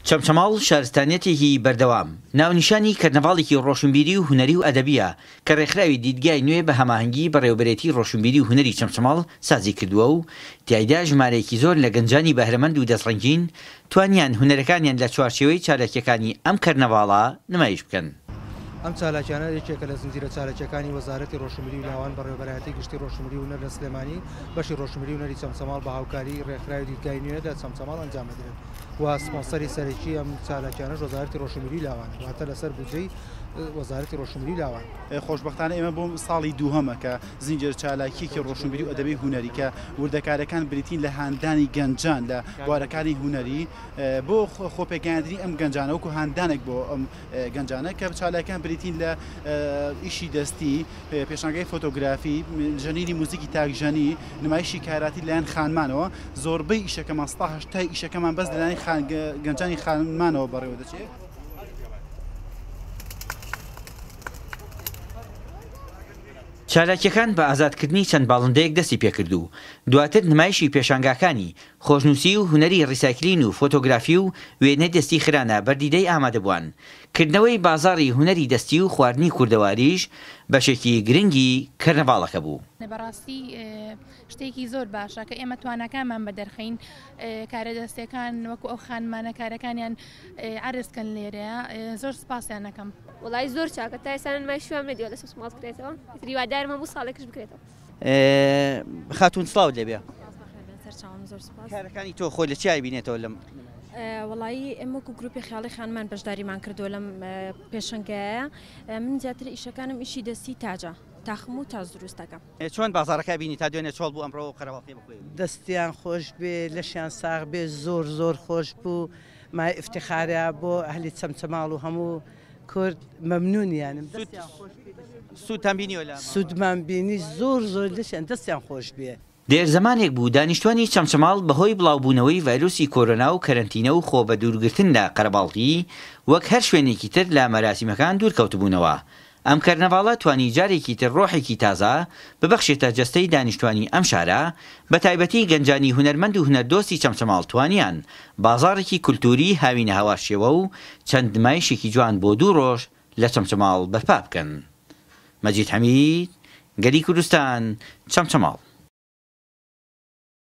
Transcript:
چەمچەماڵ شارستانیەتێکی بەردەوام، ناونیشانی کەرنەڤاڵێکی ڕۆشنبیری و هونەری و ئەدەبییە کە ڕێکخراوی دیدگای نوێ بە هەماهەنگی بەڕێوەبەرێتی ڕۆشنبیری و هونەری چەمچەماڵ سازی کردووە و تیایدا ژمارەیەکی زۆر لە گەنجانی بەهرەمەند و دەستڕەنگین توانیان هونەرەکانیان لە چوارچێوەی چالاکییەکانی ئەم کەرنەڤاڵە نمایش بکەن. ئەم چالاکیانە یەکێکە لە زنجیرە چالاکییەکانی وەزارەتی ڕۆشنبیری و لاوان بەڕێوەبەرایەتی گشتی ڕۆشنبیری و هونەر لە سلێمانی بەشی ڕۆشنبیری و هونەری چەمچەماڵ بە هاوکاریی ڕێکخراوی دیدگای نوێ لە چەمچەماڵ ئەنجام دەدرێن و سپۆنسەری سەرەکیی ئەم چالاکیانەش وەزارەتی ڕۆشنبیری و لاوانە واتە لەسەر بودجەی وەزارەتی ڕۆشنبیری و لاوان. خۆشبەختانە ئێمە بۆ ساڵی دووهەمە کە زنجیرە چالاکییەکی ڕۆشنبیری و ئەدەبی هونەری کە وردەکارییەکان بریتین لە هاندانی گەنجان لە بوارەکانی هونەری بۆ خۆپێگەیاندنی ئەم گەنجانە وەکو هاندانێک بۆ ئەم گەنجانە کە چالاکیان بریتین لە ئیشی دەستی پێشانگەی فۆتۆگرافی ژەنینی موزیکی تاکژەنی نمایشی کاراتی لایەن خانمانەوە زۆربەی ئیشەکەمان ستا ئیشەکەمان بەس لەلایەن گەنجانی خانمانەوە بەڕێوە دەچێت. چالاکیەکان بە ئازادکردنی چەند باڵندەیەک دەستی پێکرد و دواتر نمایشی پێشانگاکانی خۆشنووسی و هونەری ڕیسایکلین و فۆتۆگرافی و وێنەی دەستی خرانە بەر دیدەی ئامادەبوان. کردنەوەی بازاڕی هونەری دەستی و خواردنی کوردەواریش بەشێکی گرنگی کەرنەڤاڵەکە بوو. بەڕاستی شتێکی زۆر باشە کە ئێمە تواناکانمان بە دەرخەین کارە دەستێکان وەکو ئەو خانمانە کارەکانیان عرزکەن لێرەیە زۆر سپاسیان نەکەم. وەڵایی زۆر چاکە تا ئێستا من مای شوام نەدیوە لەسەر سماڵت کرێتەوە ئیتر هیوادارم هەموو ساڵێکش بکرێتەوە. خاتون سڵاوت لێ بێ کارەکانی تۆ خۆی لە چای بینێتەوە لەم وڵایی ئەم وەکو گروپی خیاڵی خانمان بەشداریمان کردو لەم پێشنگایە من زیاتر ئیشەکانم ئیشی دەستی تاجە تاخم و تاز دروستەکە چۆن بازارەکە بینی تا دوێنێ چۆڵ بوو ئەمڕەوە قەرەواڵی بخوێ دەستیان خۆش بێ لەشیان ساغ بێ زۆر زۆر خۆش بوو مای افتخارە بۆ ئەهلی چەمچەماڵ و هەموو کورد مەمنون یانم دەستیان خۆش بێ سوودتان بینیوە لە ماڵەوە؟ سوودمان بینی زۆر زۆر لەشیان دەستیان خۆش بێ. دێر زەمانێک بوو دانیشتوانی چەمچەماڵ بەهۆی بڵاوبوونەوەی ڤایرۆسی کۆرۆنا و کەرەنتینە و خۆ بەدوورگرتن لە قەرەباڵغی وەک هەر شوێنێکی تر لە مەراسیمەکان دوور کەوتبوونەوە ئەم کەرنەڤاڵە توانی جارێکی تر ڕۆحێکی تازە ببەخشێتە جەستەی دانیشتوانی ئەم شارە بەتایبەتی گەنجانی هونەرمەند و هونەردۆستی چەمچەماڵ توانیان بازاڕێکی کولتووریی هاوینەهاوارشێوە و چەند نمایشێکی جوان بۆ دوو ڕۆژ لە چەمچەماڵ بەرپا بکەن. مەجید حەمید، گەلی کوردستان، چەمچەماڵ.